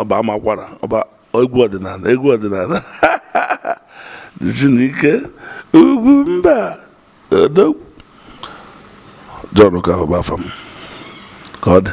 ọba amakwara ọba egwu ọdịnala egwu ọdịnala Chineke ugwu mba odogwu John Okafor bụ afa m ka ọ dị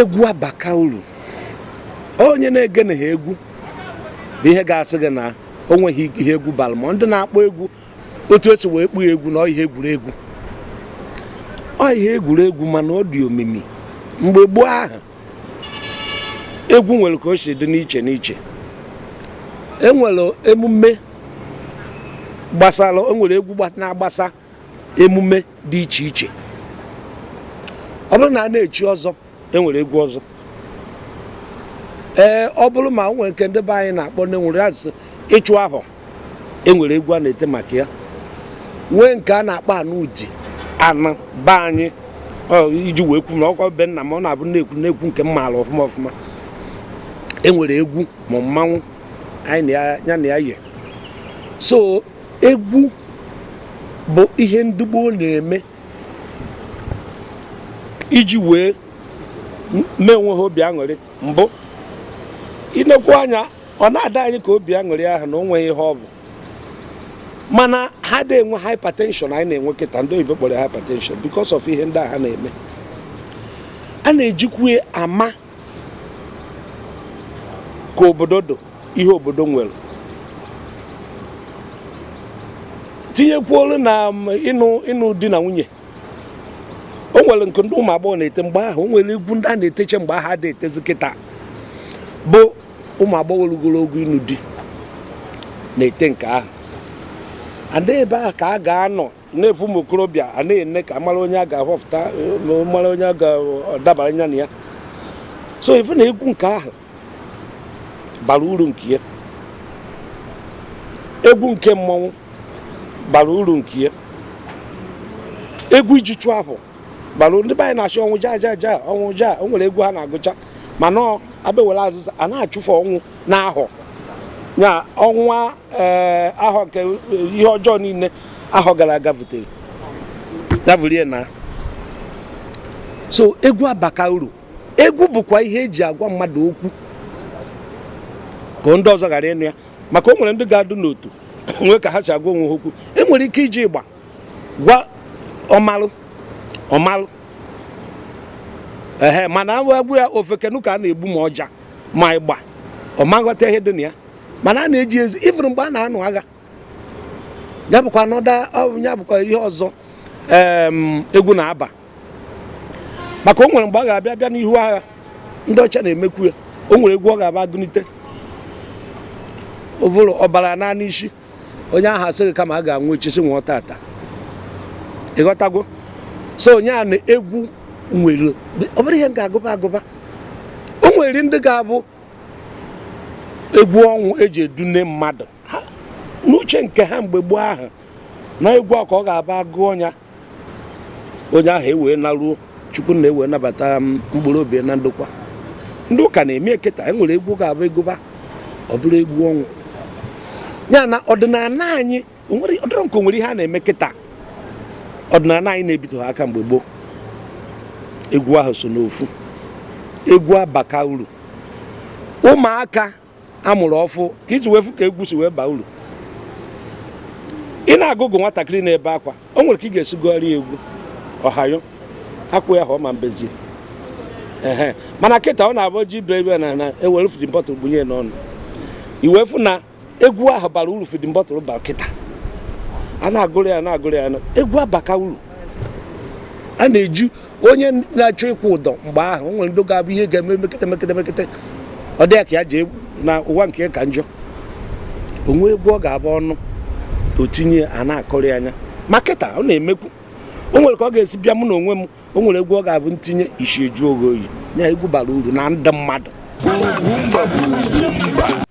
egwu abaka uru onye na-egene ha egwu bụ ihe ga-asị gị na o nweghị ihe egwu bara ma ndị na-akpọ egwu otu esi wee kpọọ egwu na ọ ihe egwuregwu ọ ihe egwuregwu mana ọ dị omimi mgbe gboo ahụ egwu nwere ka o si dị n'iche n'iche enwere emume gbasara enwere egwu na-agbasa emume dị iche iche ọ bụrụ na a na-echi ọzọ enwere egwu ọzọ ee ọ bụrụ ma o nwere nke ndị be anyị na-akpọ ndị nwere asị ịchụ ahọ e nwere egwu a na-ete maka ya nwee nke a na-akpọ anụ uji anụ be anyị iji wee kwu na ọkwa be nna m ọ na-abụ na-ekwu na-ekwu nke m maara ọfụma ọfụma e nwere egwu ma mmanwụ anyị ya na ya yi so egwu bụ ihe ndị gboo na-eme iji wee mee onwe ha obi aṅụrị mbụ i nekwu anya ọ na-adị anyị ka obi aṅụrị ahụ na o nweghị ihe ọ bụ mana ha adị enwe hypertension anyị na-enwe kịta ndị oyibo kpọrọ hypertension because of ihe ndị a ha na-eme a na-ejikwu ama ka obodo dị ihe obodo nwere tinyekwuolu na um, ịnụ ịnụ di na nwunye o nwere nke ndị ụmụ agbọghọ na-ete mgbe ahụ o nwere egwu ndị a na-eteche mgbe ahụ adịghị etezi kịta bụ ụmụ agbọghọ rugoro ogo ịnụ di na-ete nke ahụ and ebe a ka a ga-anọ na-afụ ụmụ okorobịa a na-ene ka mara onye a ga-ahọpụta mara onye a ga-adabara anya na ya so ife na egwu nke ahụ bara uru nke ya egwu nke mmanwụ bara uru nke ya egwu e ji achụ ahọ bara ndị be anyị na-asị ọnwụ ja ja ja ọnwụ ja o nwere egwu ha na-agụcha mana ọ abewere azịza a na-achụfe ọnwụ n'ahọ ya ọnwa ee ahọ nke ihe ọjọọ niile ahọ gara aga vutere ya vuru naa so egwu abaka uru egwu bụkwa ihe e ji agwa mmadụ okwu ka ndị ọzọ ghara ịnụ ya maka o nwere ndị ga-adụ n'otu nwee ka ha si agwa onwe ha okwu e nwere ike iji ịgba gwa ọmalụ ọmalụ ehe mana agwụ ya ofeke nụ ka a na-egbu ma ọja ma ịgba ọ ma aghọta ihe dị na ya mana a na-eji ezi even mgbe a na-anụ agha ya bụkwa another ya bụkwa ihe ọzọ egwu na-aba maka o nwere mgbe a ga-abịa bịa n'ihu agha ndị ọcha na-emekwu ya o nwere egwu ọ ga-abụ a gụnite ọ bụrụ ọbara naa n'isi onye ahụ asị gị kama a ga-anwụ echi si nwụọ tata ịghọtago so onye a na egwu nwere ọ bụrụ ihe a ga-agụba agụba o nwere ndị ga-abụ egwu ọnwụ e ji edune mmadụ n'uche nke ha mgbe gboo ahụ na egwu a ka ọ ga-abụ a gụọ ya onye ahụ ewee naruo chukwu nna ewee nabata mkpụrụ obi na ndokwa ndị ụka na-eme kịta e nwere egwu ga-abụ a gụba ọ bụrụ egwu ọnwụ ya na ọdịnala anyị ọ dịrọ nke nwere ihe a na-eme kịta ọdịnala anyị na-ebitụ ha aka mgbe gboo egwu ahụ so n'ofu egwu abaka uru ụmụaka a mụrụ ọfụụ ka i ji wee fụ ka egwu si wee baa uru ị na-agụgụ nwatakịrị na-ebe akwa o nwere ka ị ga-esi gụọrọ egwu ọhayo akwụ ya ha ọ ma ebezi ee mana kịta ọ na-abụ ji brebe na na e were feeding bottle bunye n'ọnụ i wee fụ na egwu ahụ bara uru feeding bottle bara kịta a na-agụrụ ya na-agụrụ ya egwu abaka uru a na-eju onye na-achọ ịkwụ ụdọ mgbe ahụ o nwere ndị ga-abụ ihe ga-eme mekete mekete mekete ọ dị ya ka ya jee na ụwa nke ya ka njọ o nwee egwu ọ ga-abụ ọ nụ o tinye a na-akọrị anyị ma kịta ọ na-emekwu o nwere ka ọ ga-esi bịa mụ na onwe m o nwere egwu ọ ga-abụ ntinye isi ejuo gị oyi ya egwu bara uru na ndụ mmadụ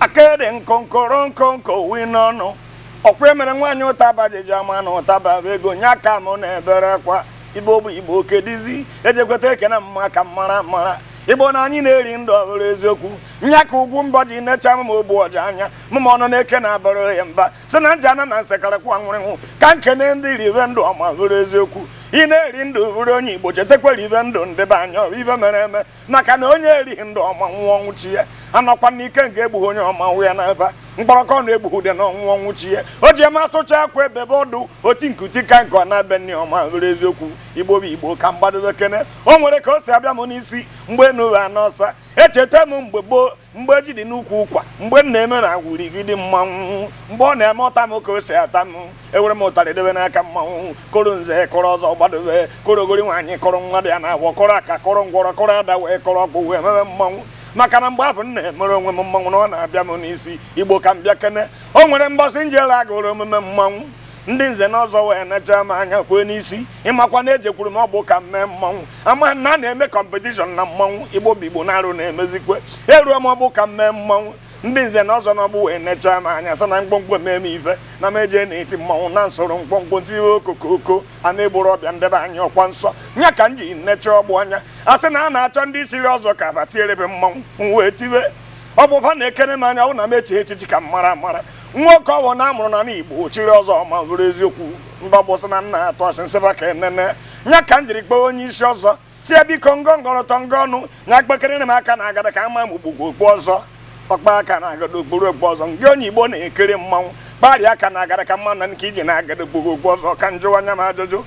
akịrị nkonkoro nkonko wi n'ọnụ ọkwa emere nwaanyị ụtaba jeji ama na ụtaba bụ ego nye aka m na-ebere kwa igbo bụ igbo kedizi ejekweta ekene mma ka mara mara igbo na anyị na-eri ndụ ọhụrụ eziokwu nya ka ugwu mbọ ji necha m ogbu ọja anya mụma ọnụ na-eke na-abara ohe mba si na nja na na nsekarịkwa nwụrịnwụ ka nkene ndị rive ndụ ọma hụrụ eziokwu ị na-eri ndụ bụrụ onye igbo chetakwa ribe ndụ ndị be anyị ibe mere eme maka na onye erighị ndụ ọma nwụọ ọnwụ chi ya anọkwa n'ike nke egbughị onye ọma nwụ ya n'ebe mkpọrọkọ na egbughị ude na ọnwụ ọnwụ chi ya o ji eme asụcha akwa ebebe ọdụ oti nke uti ka nke ọ na-ebe nne ọma nwere eziokwu igbo bụ igbo ka m gbadobe kene o nwere ka o si abịa m n'isi mgbe enu wụ ana ọsa echeta m mgbe gboo mgbe ezi dị n'ukwu ụkwa mgbe nna eme na agwụri gị dị mmanwụ mgbe ọ na-eme ọta m ka o si ata m ewere m ụtarị debe n'aka mmanwụ kọrọ nze kọrọ ọzọ gbadobe kọrọ ogori nwaanyị kọrọ nwa dị ya n'afọ kọrọ aka kọrọ ngwọrọ kọrọ ada wee kọrọ ọgwụ wee mebe mmanwụ maka na mgbe ahụ m na-emere onwe m mmanwụ na ọ na-abịa m n'isi igbo ka m bịa kene o nwere mbọsị m jere agụrụ omume mmanwụ ndị nze na ọzọ wee necha m anya kwee n'isi ịmakwa na ejekwuru m ọgbụ ka m mee mmanwụ ama na a na-eme kọmpetishọn na mmanwụ igbo bụ igbo na-arụ na-emezikwe eruo m ọgbụ ka m mee mmanwụ ndị nze na ọzọ n'ọgbụ wee nechaa m anya sị na mkpọmkpọ mee m ife na m eje na-eti mmanwụ na nsoro mkpọmkpọ tiwe okokoko a na-egboro ọbịa ndebe anyị ọkwa nsọ nya ka m ji necha ọgbụ anya a sị na a na-achọ ndị chiri ọzọ ka aba tierebe mmanwụ m wee tiwe ọ bụ fa na-ekere m anya ọ na m echi echichi ka m mara mara nwoke ọwụna a mụrụ na igbo chiri ọzọ ma bụrụ eziokwu mba gbụsị na nna atọ asị nsịba ka enene nya ka m jiri kpọọ onye isi ọzọ sị ya biko ngọ ngọrọtọ ngọ ọnụ nya kpekere m aka na agada ka ama m gbugbo okpu ọzọ ọkpa aka na agada o kpuru okpu ọzọ gị onye igbo na-ekiri mmanwụ kparịa aka na agada ka mma na nke iji na agada o kpuru okpu ọzọ ka m jụwa nya m ajụjụ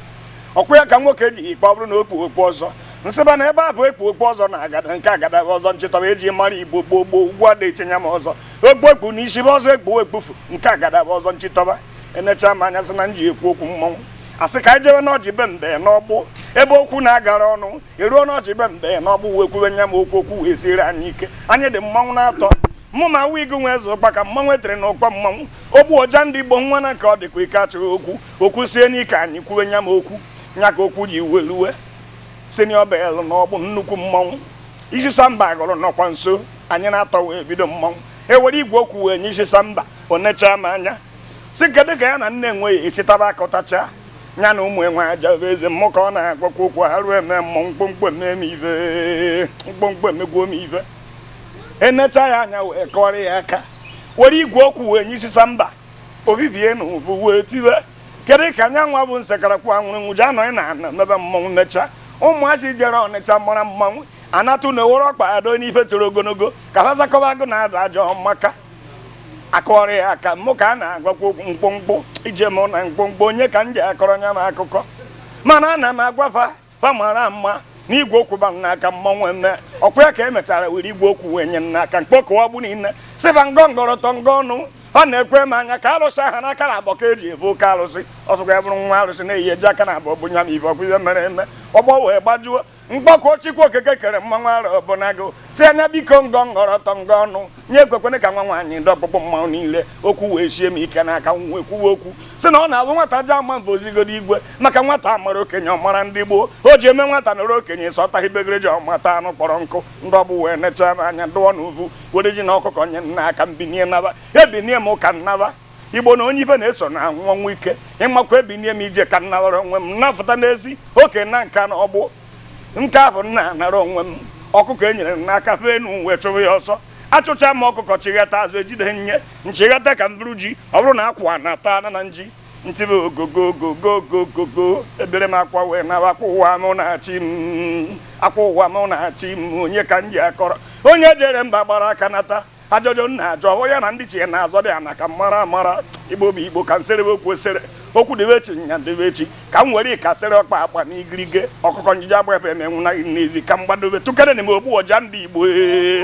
ọkwa ya ka nwoke ji ikpe ọ bụrụ na o kpu okpu ọzọ nsịba na ebe a bụ ekpu okpu ọzọ na agada nke agada ọzọ nchịtọba eji mara igbo gboo gboo ugbu a na-etinye m ọzọ okpu ekpu na isi bụ ọzọ ekpu ekpufu nke agada bụ ọzọ nchịtọba enecha m anya sị na m ji ekwu okwu mmọnwụ asị ka anyị jebe n'ọjị be mbe n'ọgbụ ebe okwu na-agara ọnụ eruo n'ọjị be mbe n'ọgbụ wee kwuwe nya m okwu okwu wee siere anyị ike anyị dị mmanwụ n'atọ mụ ma wig nwe eze ụkpaka mmanwụ etere na ụkwa mmanwụ ogbu ọja ndị igbo nwa na nke ọ dịkwa ike achọghị okwu okwu sie n'ike anyị kwuwe nya m okwu nya ka okwu ji weluwe senior bel n'ọgbụ nnukwu mmanwụ isi samba gụrụ nọkwa nso anyị n'atọ wee bido mmanwụ ewere igwe okwu wee nye isi samba o nechaa m anya sị kedu ka ya na nne enwe ji echitaba aka ụtacha ya na ụmụ enwe aja bụ eze mụ ka ọ na-agwakwa okwu arụ emee mụ mkpọmkpọ eme m ive mkpọmkpọ emegbuo m ive enecha ya anya wee kọrọ ya aka were igwe okwu wee nye isi samba obibie n'ọgbụ wee tiwe kedu ka anya nwa bụ nsekarakwu anwụrụ nwụji anọghị na ana mebe mmọnwụ necha ụmụachi jere ọnịcha mara mmanwụ anatụ na ewere ọkpa ado n'ife toro ogologo ka ha zakọba agụ na ada ajọ maka akọrọ ya aka mụ ka a na-agwakwa okwu mkpọmkpọ ije m na mkpọmkpọ nya ka m ji akọrọ nya m akụkọ mana ana m agwa fa fa mara ma na igwe okwu ba n'aka mmanwụ emee ọkwa ya ka emechara were igwe okwu wee nye n'aka mkpọmkpọ ọgbụ niile sịba ngọ ngọrọtọ ngọ ọnụ ọ na-ekwe m anya ka arụsị ha n'aka naabọ ka eji evu oke arụsị ọsọkwa ya bụrụ nwa arụsị na-eyi eji aka naabọ bụ nya ma ife ọkwa ife mere eme ọgbọ wee gbajuo mgbakọ chikwu okeke kere mmanwụ ara ọbụnago si anya biko ngọ ngọrọ ọtọ ngọ ọnụ nye ekwekwene ka nwa nwaanyị ndị ọkpụkpụ mmanwụ niile okwu wee sie m ike n'aka nwa ekwuwe okwu si na ọ na-abụ nwata ji ama mfe ozigodo igwe maka nwata amara okenye ọ mara ndị gboo o ji eme nwata nọrọ okenye sọta ibegere ji ọ mata anụ kpọrọ nkụ ndị ọgbụ wee nechaa m anya dụọ n'uvu were ji na ọkụkọ nye m n'aka m binie naba ebinie m ka m naba igbo na onye ibe na-eso na-anwụ ọnwụ ike ịmakwa ebinie m ije ka m nawara onwe m na-afụta n'ezi oke na Nkanu ọgbụ nke ahụ nna anara onwe m ọkụkọ e nyere m n'aka fee enu m wee chụrụ ya ọsọ achụcha m ọkụkọ chịghata azụ ejide nye m chịghata ka m vụrụ ji ọ bụrụ na akwa na ata na na nji m tibe ogogogogogogogo ebere m akwa wee na akwa ụwa m na-achị m akwa ụwa m na-achị m onye ka m ji akọrọ onye jere mba gbara aka nata Ajụjụ m na-ajụ hụ ya na ndị chi ya na-azọ dị ana ka mara amara igbo bụ igbo ka m sere okwu esere okwu dịbe echi nya dịbe echi ka m were ka sere ọkpa aka na igirigi ọkụkọ njije agba ebe emenwu na n'ezi ka m gbadobe tụkere na m ogbu ọja ndị igbo ee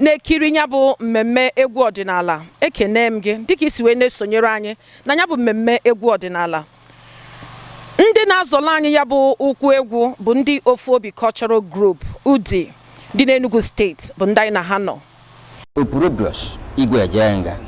na-ekiri ya bụ mmemme egwu ọdịnala ekene m gị dịka isi wee na-esonyere anyị na ya bụ mmemme egwu ọdịnala ndị na-azọla anyị ya bụ ụkwụ egwu bụ ndị ofu obi cultural group Udi dị n'Enugu steeti bụ ndị anyị na ha nọ Opurubrus Igwe Ejenga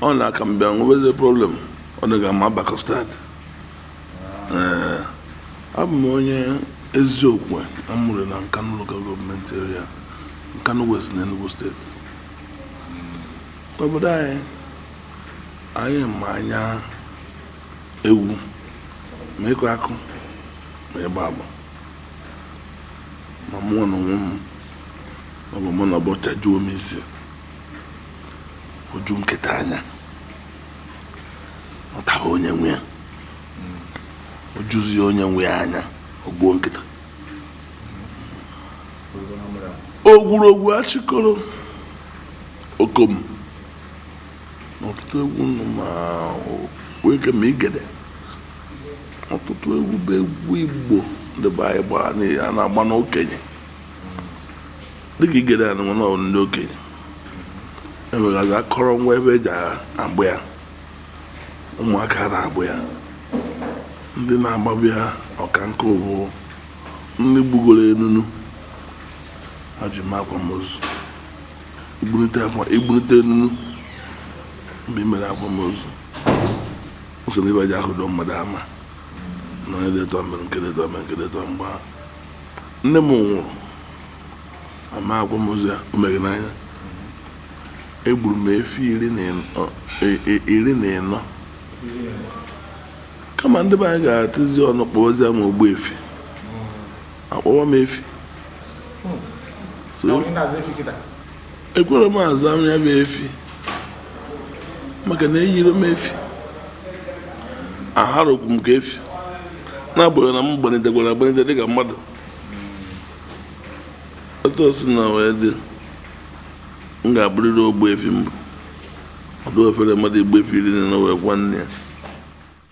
ọ na aka m bịa nwebezi problem ọ dịghị ama Abakọ steeti ee abụ m onye eziokwu a mụrụ na Nkanu local gọọmenti area Nkanu West na Enugu steeti n'obodo anyị anyị ma anya egwu ma ịkụ akụ ma ịgba agba ma mụwa n'onwe m ọ bụ mụ na ọbọcha juo m isi o ju nkịta anya ọ taba onye nwe ya o juzie onye nwe ya anya o gbuo nkịta ogwurogwu achịkọrọ okom ọtụtụ egwu nnu ma weke ma igede ọtụtụ egwu bụ egwu igbo ndị be anyị gbara na- a na-agba n'okenye dịka igede a nụnwa na ọ bụ ndị okenye enwegazi akọrọngwa ebe e ji agba ya ụmụaka na-agba ya ndị na-agbabụ ya ọka nke mbụ ndị gbugoro enunu ha ji mee akwamozu igburute enunu mgbe i mere akwamozu usoro ibe ji ahụdo mmadụ ama na onye detọ mere nke detọ mere nke detọ mgbe nne m nwụrụ ama akwamozu a o meghe n'anya egburu m efi iri na ịnọ- e- e- iri na ịnọ kama ndị be anyị ga-atụzi ọnụ kpọwazie m ogbu efi akpọwa m efi so ekwere m aza m ya bụ efi maka na eyiri m efi aharokwu m ka efi na-abụghị na m gbanitekwara agbanite dịka mmadụ otu o sina wee dị m ga-abụrịrị ogbuefi m bụ ọ dị ofere mmadụ igbu efi iri na ịnọ wee kwaa nne ya